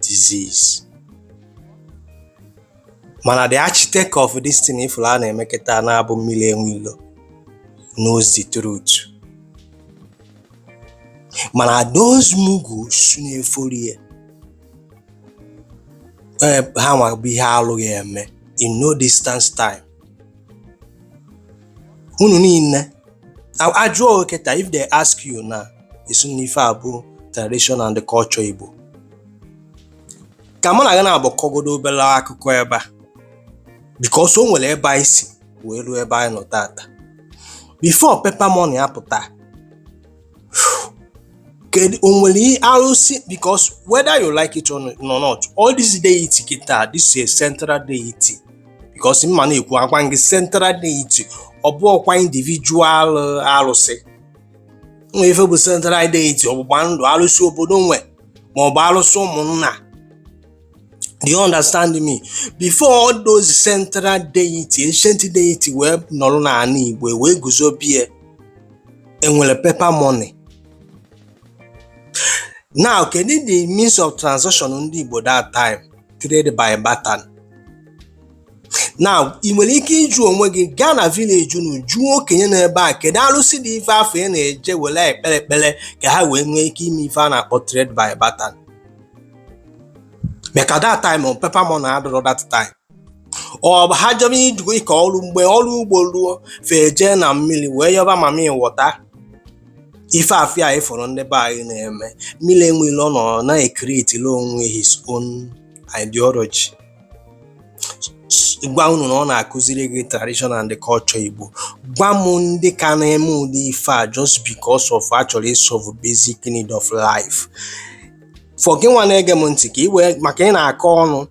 disease mana the architect of this thing ị fụrụ a na-eme kịta na-abụ mmiri enwe ilo knows the truth mana those mugus na-efollow ya Eh, ha nwa bụ ihe alụghị eme in no distance time unu niile a jụọ kịta if they ask you na-asị na ife a bụ tradition and culture Igbo ka mụ na gị na-agbakọgodo obere akụkọ ebe a because o nwere ebe anyị si wee ruo ebe anyị nọ tata before paper money apụta kedu o nwere ihe arụsị because whether you like it or not all this deity kịta this is a central deity because m ma na-ekwu agwa gị central deity ọ bụrọkwa individual uh, arụsị nwe ife bụ central deity ọ bụgba ndị arụsị obodo nwe ma ọ bụ arụsị ụmụnna Do you understand me? Before all those central deity, ancient deity wee nọrọ n'ala Igbo e wee guzobie e nwere paper money. Now kedu the means of transaction ndị Igbo that time trade by barter. Now ị nwere ike ịjụ onwe gị gaa na village unu jụọ okenye nọ ebe a kedu arụsị dị ife a fa na-eje were ekpere ekpere ka ha wee nwee ike ime ife a na-akpọ trade by barter. maka that time ahụ paper money adịrọ that time ọ bụ ha jebe ijugo ịkọ ọrụ mgbe ọrụ ugbo ruo fa ejee na mmiri wee yọba mami wọta ife afụ anyị fụrụ ndị be anyị na-eme mmiri enwe ilo nọ na-ecreatere onwe his own ideology gwa unu na ọ na-akụziri gị tradition and culture Igbo gwa m ndị ka na-eme ụdị ife a just because of a chọrọ ịsolve basic need of life for gị nwa na-ege m ntị ka ị wee ma ka ị na-akọ ọnụ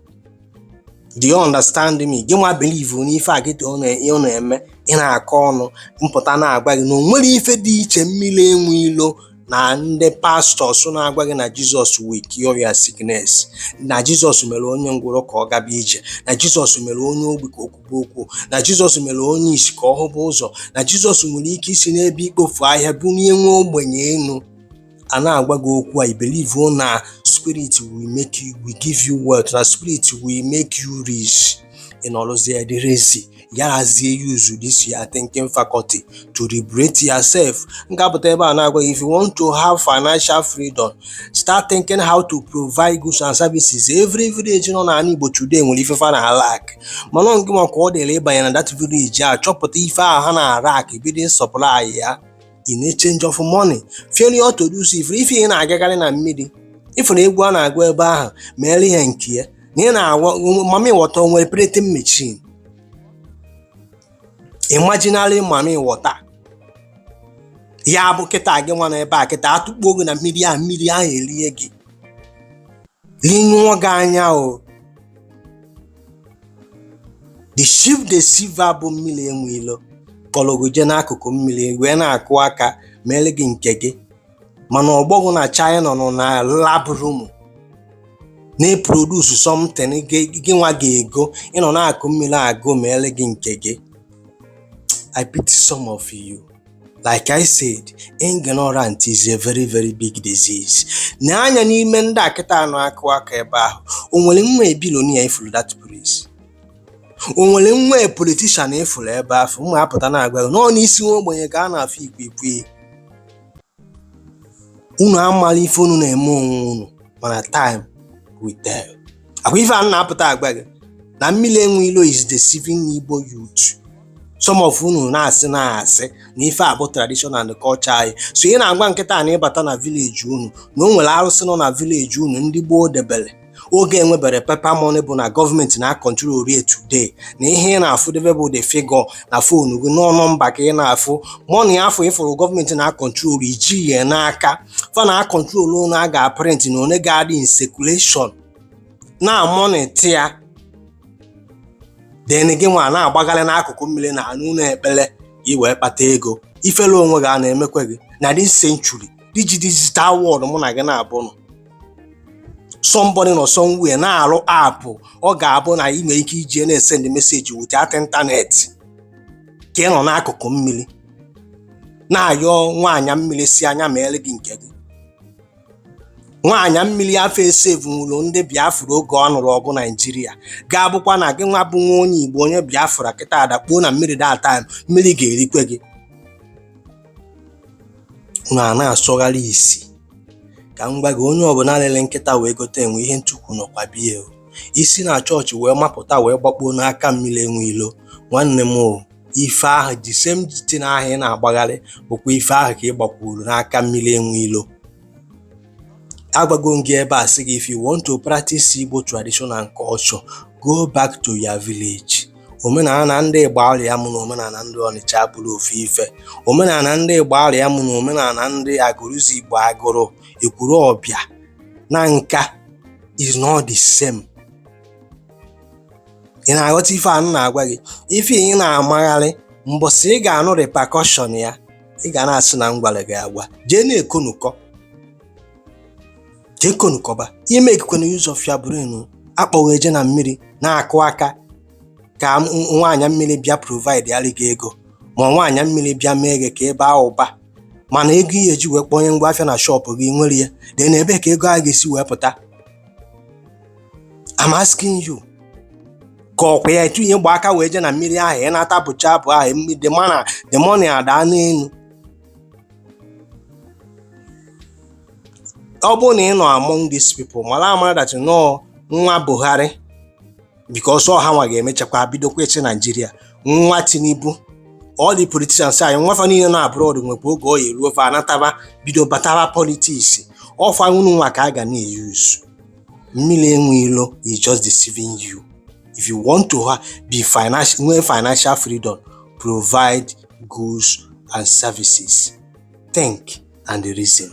do you understand me gị nwa believe n'ife a gị ọ na-eme ị na-akọ ọnụ m pụta na-agwa gị na o nwere ife dị iche mmiri enwe ilo na ndị pastọs na-agwa gị na jizọs will cure your sickness na jizọs mere onye ngwụrọ ka ọ gaba ije na jizọs mere onye ogbi ka o kwube okwu na jizọs mere onye isi ka ọ hụba ụzọ na jizọs nwere ike isi n'ebe ikpofu ahịhịa bunie nwa ogbenye enu a na-agwa gị okwu a ị believe na spirit will give you wealth na spirit will make you rich ị nọrọzie dị lazy you are lazy use this your thinking faculty to liberate yourself m ga-apụta ebe a na-agwa if you want to have financial freedom start thinking how to provide goods and services every village nọ n'ala Igbo today nwere ife fa na-alack mana ọ ngị nwa ka ọ dịrị ịbanye na that village a chọpụta ife ahụ ha na-alack bido supply ya in exchange of money failure to do so ị fụrụ ife ị na-agagharị na mmiri ị fụrụ egwu a na-agụ ebe ahụ mere ihe nke ya na ị na-agwa mami wọta o nwere printing machine imaginary mami wọta ya bụ kịta gị nwa na ebe a kịta atụkpuo gị na mmiri ahụ mmiri ahụ erie gị rinyụọ gị anya o the chief deceiver bụ mmiri enwe ilo kpọlọ gị jee n'akụkụ mmiri wee na-akụ aka mere gị nke gị mana ọgbọ gị na china nọ na lab room na-eproduce something gị- gị nwa ga-ego ị nọ n'akụkụ mmiri agụ mere gị nke gị i pity some of you like I said, ignorant is a very very big disease. Nee anya n'ime ndị a kịta nọ akụ aka ebe ahụ, o nwere nwa billionaire ị fụrụ that place. O nwere nwa politician ị fụrụ ebe afụ, mụ apụta na-agwa gị, n'ọ n'isi nwa ogbenye ka a na-afụ ikwiikwii. Unu amarọ ife unu na-eme onwe unu, mana time will tell. akwa ife a m na-apụta agwa gị na mmiri enwe ilo is deceiving Igbo youth some of unu na-asị na-asị na ife a bụ tradition and culture anyị so ị na-agwa m kịta na ị bata na village unu na o nwere arụsị nọ na village unu ndị gboo debere oge enweberọ paper money bụ na gọọmenti na-akọntrol ya today na ihe ị na-afụ debe bụ the figure na fonu gị n'ọ nọmba ka ị na-afụ money afụ ị fụrụ gọọmenti na-akọntrol ya ji ya n'aka fa na-acontrol one a ga-aprint na one ga-adị in circulation na-amonitor ya then gị nwa na-agbagharị n'akụkụ mmiri na n'ụlọ ekpere i wee kpata ego ifere onwe gị a na-emekwa gị na this century digi digital world mụ na gị naabọ nọ somebody nọ somewhere na-arụ app ọ ga-abụ na ị nwere ike iji na-esend message without internet ka ị nọ n'akụkụ mmiri na-ayọ nwaanyị mmiri sị nya meelụ gị nke gị nwaanyị mmiri afụ esevunwurọ ndị biafra oge ọ nụrụ ọgụ naijiria ga-abụkwa na gị nwa bụ nwa onye igbo onye biafra kịta adakpuo na mmiri that time mmiri ga-erikwe gị na na-asọgharị isi ka m gwa gị onye ọbụla lele nkịta wee gote enwe ihe ntukwu nọkwa be ya i si na chọọchị wee mapụta wee gbakpuo n'aka mmiri enwe ilo nwanne m o ife ahụ the same thing ahụ ị na-agbagharị bụkwa ife ahụ ka ị gbakwuru n'aka mmiri enwe ilo agwago m gị ebe a sị gị if you want to practice Igbo tradition and culture go back to your village omenala ndị Igbariam na omenala ndị Ọnịcha abụrọ ofu ife omenala ndị Igbariam na omenala ndị Agụlụzigbo Agụlụ Ekwulọbịa Nanka is not the same ị na-aghọta ife a na-agwa gị ife ị na-amagharị mbọsị ị ga-anụ repercussion ya ị ga na-asị na m gwara gị agwa jee na-ekonukọ jee konukọba ị makekwana use of your brain a kpọ gị eje na mmiri na-akụ aka ka nwaanyị mmiri bịa providealị gị ego ma nwaanyị mmiri bịa mee gị ka ị baa ụba mana ego ihe eji wee kpọnye ngwa afịa na shop gị nwere ya dị na ebee ka ego a ga-esi wee pụta I'm asking you ka ọkwa ya etu ihe gba aka wee je na mmiri ahụ ị nata bụcha abụ ahụ the money adaa n'elu ọ bụrụ na ị nọ among these people mara amara that nọọ nwa Buhari because ọ ha nwa ga-emechakwa bidokwa ịchị Nigeria nwa Tinubu all the politicians anyị nwa fa niile na abroad nwekwa oge ọ ya-eruo fa anataba bido bataba politics ọfa unu nwa ka a ga na-use mmiri enwe ilo is just deceiving you if you want to have financial freedom provide goods and services think and reason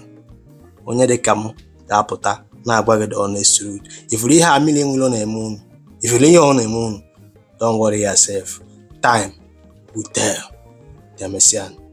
onye dị ka m ga-apụta na-agwa gị the honest truth ị fụrụ ihe a mmiri enwe ilo na-eme unu ị fụrụ ihe ọ na-eme unu don't worry yourself time will tell. Demesian.